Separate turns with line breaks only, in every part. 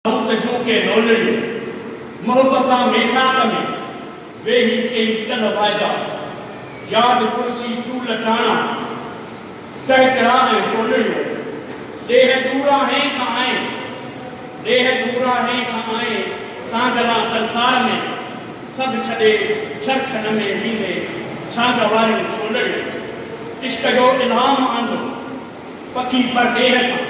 موت جون ڪي لونڙيون، محب سان ميثاق ۾، ويهي ڪئي ڪلهه واعدا، ياد ڪرسي چول ٽاڻا، ڪهڪرا ۽ ٽولڙيون، ڏيهه ڏوران هين کان آئين، ڏيهه ڏوران هين کان آئين، سانگلان سنسار ۾، سڀ ڇڏي ڇر ڇڏ ۾ ويندي، ڇانگ واريون ڇولڙيون، عشق جو الهام آندو، پکي پرڏيهه کان.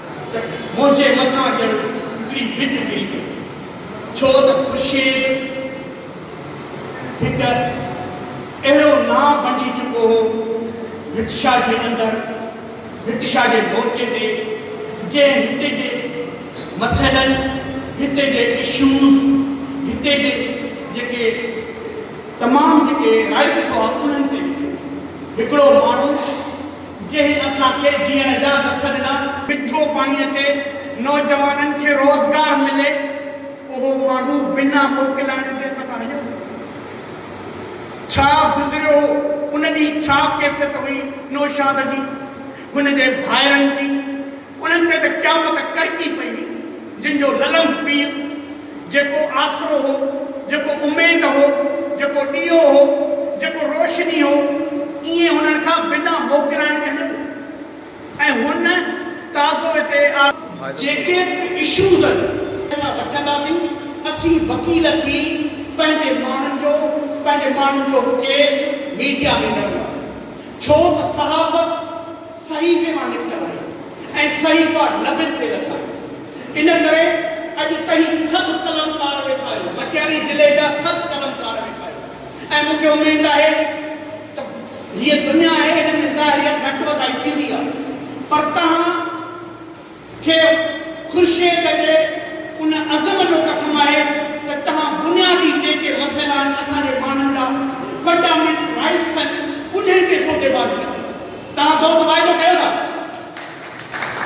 ته منهنجي مٿان ڄڻ هڪڙي ڀت ڪري پئي ڇو ته خورشيد هڪ اهڙو نانء بڻجي چڪو هو ڀٽشاهه جي اندر، ڀٽشاهه جي مورچي تي جنهن هتي جي مسئلن، هتي جي اشوز، هتي جي جيڪي تمام جيڪي رائيٽس هئا انهن تي لکيو هڪڙو ماڻهو. جنهن اسان کي جيئڻ جا وس ڏنا. مٺو پاڻي اچي، نوجوانن کي روزگار ملي، اهو ماڻهو بنا موڪلائڻ جي اسان کان هليو ويو. ڇا گذريو هو، ان ڏينهن ڇا ڪيفيت هئي نوشاد جي، هن جي ڀائرن جي. انهن تي ته قيامت ڪڙڪي پئي، جن جو للنگ پيء، جيڪو آسرو هو، جيڪو اميد هو، جيڪو ڏيئو هو، جيڪو روشني هو، ائين هنن کان بنا موڪلائڻ جي هليو ويو ۽ هن تازو هتي آ. جيڪي به اشوز آهن اسان وٺنداسين، اسين وڪيل ٿي پنهنجي ماڻهن جو پنهنجي ماڻهن جو ڪيس ميڊيا ۾ لڙنداسين ڇو ته صحافت، صحيفي مان نڪتل آهي ۽ صحيفا نبين تي لکيا آهن. ان ڪري اڄ تهين سڀ قلمڪار ويٺا آهيو، مٽياري ضلعي جا سڀ قلمڪار ويٺا آهيو ۽ مون کي اميد آهي ته هيء دنيا آهي ان ۾ ظاهريت گهٽ وڌائي ٿيندي آهي پر تهان کي خورشيد جي ان عزم جو قسم آهي ته تهان بنيادي جيڪي مسئلا آهن اسان جي ماڻهن جا فنڊامينٽ رائيٽس آهن انهن تي سوڌي بال ڪندي تهان دوست واعدو ڪيو ٿا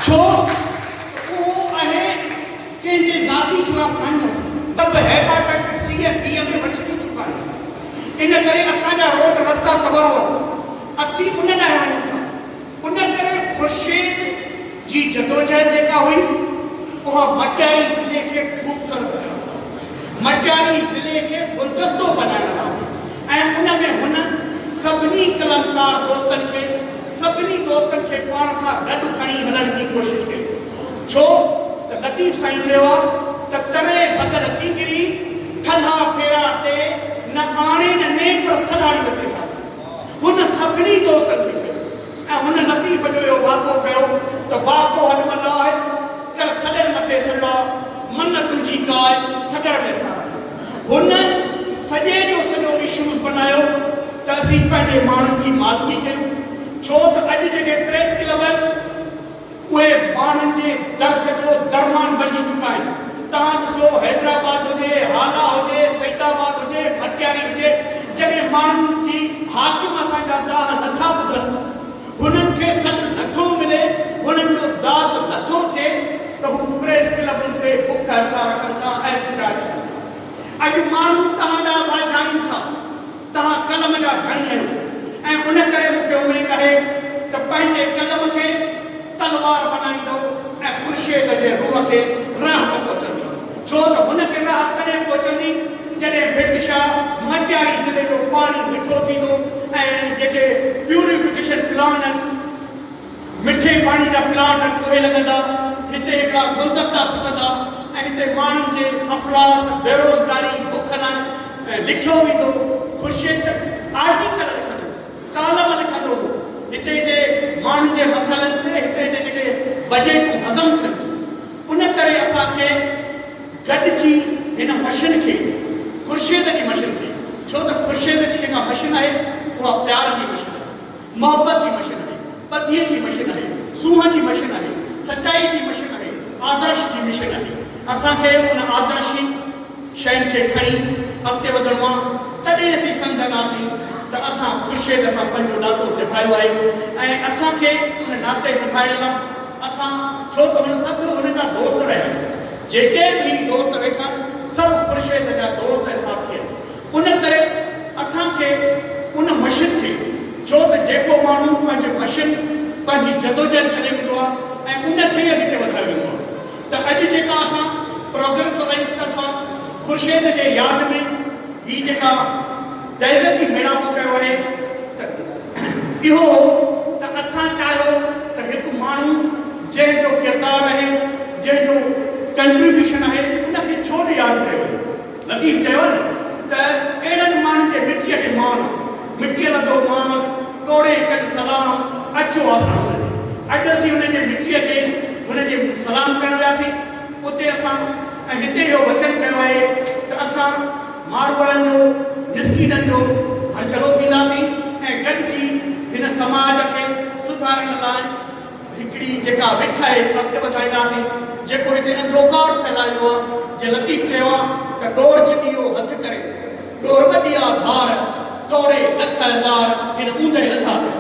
ڇو ته اهو اهي ڪنهن جي ذاتي خلاف ناهيون اسان سڀ هيپاٽائٽ سي ۽ بي ۾ وٺ ٿي چڪا آهيون ان ڪري اسان جا روڊ رستا تباهه هئا اسين ان ڏانهن وڃون ٿا ان ڪري خورشيد جي جدوجهد جيڪا هئي اها مٽياري ضلعي کي خوبصورت ڪرڻ لاء، مٽياري ضلعي کي گلدستو بنائڻ لاء ۽ ان ۾ هن سڀني قلمڪار دوستن کي سڀني دوستن کي پاڻ سان گڏ کڻي هلڻ جي ڪوشش ڪئي ڇو ته لطيف سائين چيو آ ته تري ڀڳل ڪنگري ٺلها ڦيرا ٽي نه آڻي نه نيپر سلهاڙي وتي ساٿي هن سڀني دوستن کي چيو. ۽ هن لطيف جو اهو واڪو ڪيو ته واڪو هڏ مان نه آهي، ڪر سڏر مٿي سڏا، من تنهنجي ڪاء سڳر ۾ سارا ٿي. هن سڄي جو سڄو اشوز بنايو ته اسين پنهنجي ماڻهن جي مالڪي ڪيون، ڇو ته اڄ جيڪي پريس ڪلب آهن، اهي ماڻهن جي درد جو درمان بنجي چڪا آهن توهان ڏسو حيدرآباد هجي هالا هجي سعيد آباد هجي مٽياري هجي جڏهن ماڻهن جي حاڪم اسان جا دانهن نٿا ٻڌن هنن کي سڏ نٿو ملي هنن جو داد نٿو ٿئي ته هو پريس ڪلبن تي بک هڙتال رکن ٿا احتجاج ڪن ٿا اڄ ماڻهو توهان ڏانهن راجهائين ٿا. توهان قلم جا ڌڻي آهيو ۽ ان ڪري مون کي اميد آهي ته پنهنجي قلم کي تلوار بنائيندؤ ۽ خورشيد جي روح کي راحت پهچندي، ڇو ته هن کي راحت تڏهن پهچندي جڏهن ڀٽ شاهه مٽياري ضلعي جو پاڻي مٺو ٿيندو ۽ جيڪي پيوريفڪيشن پلانٽن، مٺي پاڻي جا پلانٽ اهي لڳندا، هتي هڪڙا گلدستا ڦٽندا ۽ هتي ماڻهن جي افلاس، بيروزگاري، بک لاء لکيو ويندو. خورشيد آرٽيڪل لکندو، ڪالم لکندو هو. هتي جي ماڻهن جي مسئلن تي هتي جي جيڪي بجيٽون هضم ٿين ٿيون. ان ڪري اسان کي گڏجي هن مشن کي، خورشيد جي مشن کي، ڇو ته خورشيد جي جيڪا مشن آهي، اها پيار جي مشن آهي. محبت جي مشن اهي، ٻڌيء جي مشن اهي، سونهن جي مشن اهي، سچائيء جي مشن اهي، آدرش جي مشن اهي. اسان کي ان آدرشي شين کي کڻي اڳتي وڌڻو آهي، تڏهن اسين سمجهنداسين ته اسان خورشيد سان پنهنجو ناتو نڀايو آهي ۽ اسان کي ان ناتي نڀائڻ لا اسان ڇو ته هن سڀ هن جا دوست رهيا آهن، جيڪي به هي دوست ويٺا آهن، سڀ خورشيد جا دوست ۽ ساٿي آهن. ان ڪري اسان کي ان مشن کي ڇو ته جيڪو ماڻهو پنهنجي مشن پنهنجي جدوجهد ڇڏي ويندو آهي ۽ ان کي ئي اڳتي وڌائي ويندو آهي ته اڄ جيڪا اسان پروگريس الائنس طرفان خورشيد جي ياد ۾ هي جيڪا تعزيتي ميڙاڪو ڪيو آهي ته اهو هو ته اسان چاهيو ته هڪ ماڻهو جنهن جو ڪردار آهي جنهن جو ڪنٽريبيوشن آهي ان کي ڇو نه ياد ڪيو وڃي. لطيف چيو ته اهڙن ماڻهن جي مٺيء کي مان، مٺيء لڌو مان، ڪوڙي ڪن سلام، اچو آسان هن جي. اڄ اسين هن جي مٺيء کي هن جي سلام ڪرڻ وياسين. اتي اسان ۽ هتي اهو وچن ڪيو آهي ته اسان ماروئڙن جو، مسڪينن جو هرجھلو ٿينداسين ۽ گڏجي هن سماج کي سڌارڻ لاء، هڪڙي جيڪا وک آهي اڳتي وڌائينداسين جيڪو هتي انڌوڪار ڦهلائي ويو آهي جي لطيف چيو آهي ته ڏور جڏيو هٿ ڪري ڏور وڏيا ڌار ٽوري لک هزار هن اوندهه لڌا ويا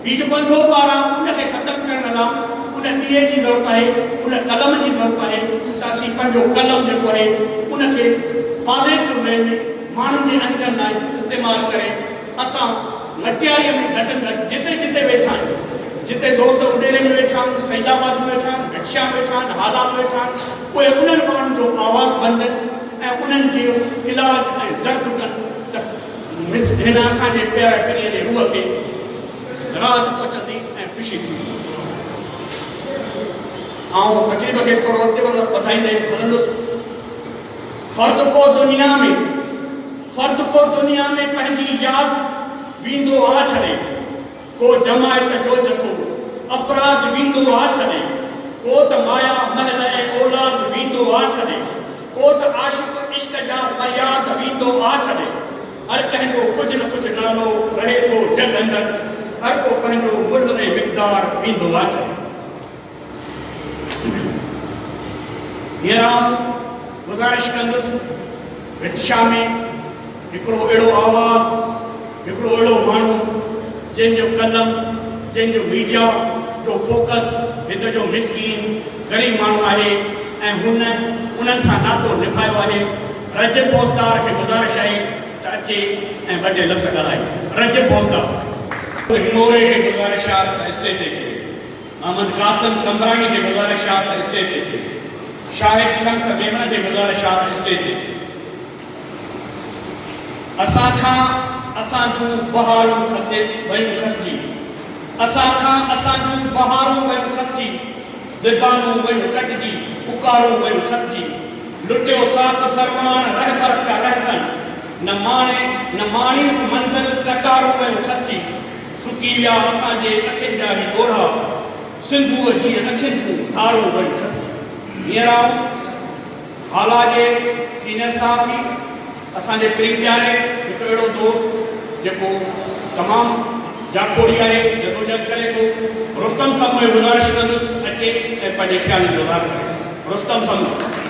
هي جيڪو انڌوڪار آهي ان کي ختم ڪرڻ لا ان ڏيئي جي ضرورت آهي ان قلم جي ضرورت آهي ته اسين پنهنجو قلم جيڪو آهي ان کي پاليس جو وي ۾ ماڻهن جي انجن لاء استعمال ڪري اسان مٽياريء ۾ گهٽ ۾ گهٽ جتي جتي ويٺا آهيون، جتي دوست اڏيري ۾ ويٺا آهن، سعيد آباد ۾ ويٺا آهن، گٽشا ۾ ويٺا آهن، هالا ۾ ويٺا آهن، اهي انهن ماڻهن جو آواز بنجن ۽ انهن جو علاج ۽ درد ڪن ته مس هن اسان جي پياري پرينء جي روح کي راحت پهچندي ۽ خوشي ٿيندي. آئون تقريب کي ٿورو اڳتي وڌائيندي هلندس. فرد ڪو دنيا ۾. فرد ڪو دنيا ۾ پنهنجي ياد ويندو آ ڇڏي، ڪو جماعت جو جٿو افراد ويندو آ ڇڏي، ڪو ته مايا محل ۽ اولاد ويندو آ ڇڏي، ڪو ته عاشق عشق جا فرياد ويندو آ ڇڏي، هر ڪنهن جو ڪجهه نه ڪجهه نالو رهي ٿو جڳ اندر، هر ڪو پنهنجو ملهه ۽ مقدار ويندو آ ڇڏي. هينئر آئون گذارش ڪندس رڪشا ۾ هڪڙو اهڙو آواز، هڪڙو اهڙو ماڻهو جنهن جو قلم، جنهن جو ميڊيا جو فوڪس هت جو مسڪين غريب ماڻهو آهي ۽ هن انهن سان ناتو نڀايو آهي. رجب پوسدار کي گذارش آهي ته اچي ۽ ٻه ٽي لفظ ڳالهائي. رجب پوسدار. هنڱوري کي گذارش آهي ته اسٽيج تي اچي ويهي. محمد قاسم قمبراڻي جي گذارشات اسٽيج تي ٿيو. شاهد شمس ميمڻ جي گذارشات اسٽيج تي ٿيو. اسان کان اسان جون بهارون کسي ويون کسجي اسان کان اسان جون بهارون ويون کسجي زبانون ويون ڪٽجي پڪارون ويون کسجي لٽيو ساٿ سرماڻ رهبر ٿيا رهزن نه ماڻي نه ماڻيس منزل قطارون ويون کسجي سڪي ويا اسان جي اکين جا هي ڳوڙها، سنڌوء جيئن اکين ٿيون ڌارون وڙي کستي. هينئر آئون هالا جي سينئر صحافي، اسان جي پرين پياري هڪ اهڙو دوست جيڪو تمام جاکوڙي آهي، جدوجهد ڪري ٿو، رستم سمون کي گذارش ڪندس اچي ۽ پنهنجي خيالن جو اظهار ڪري. رستم سمون!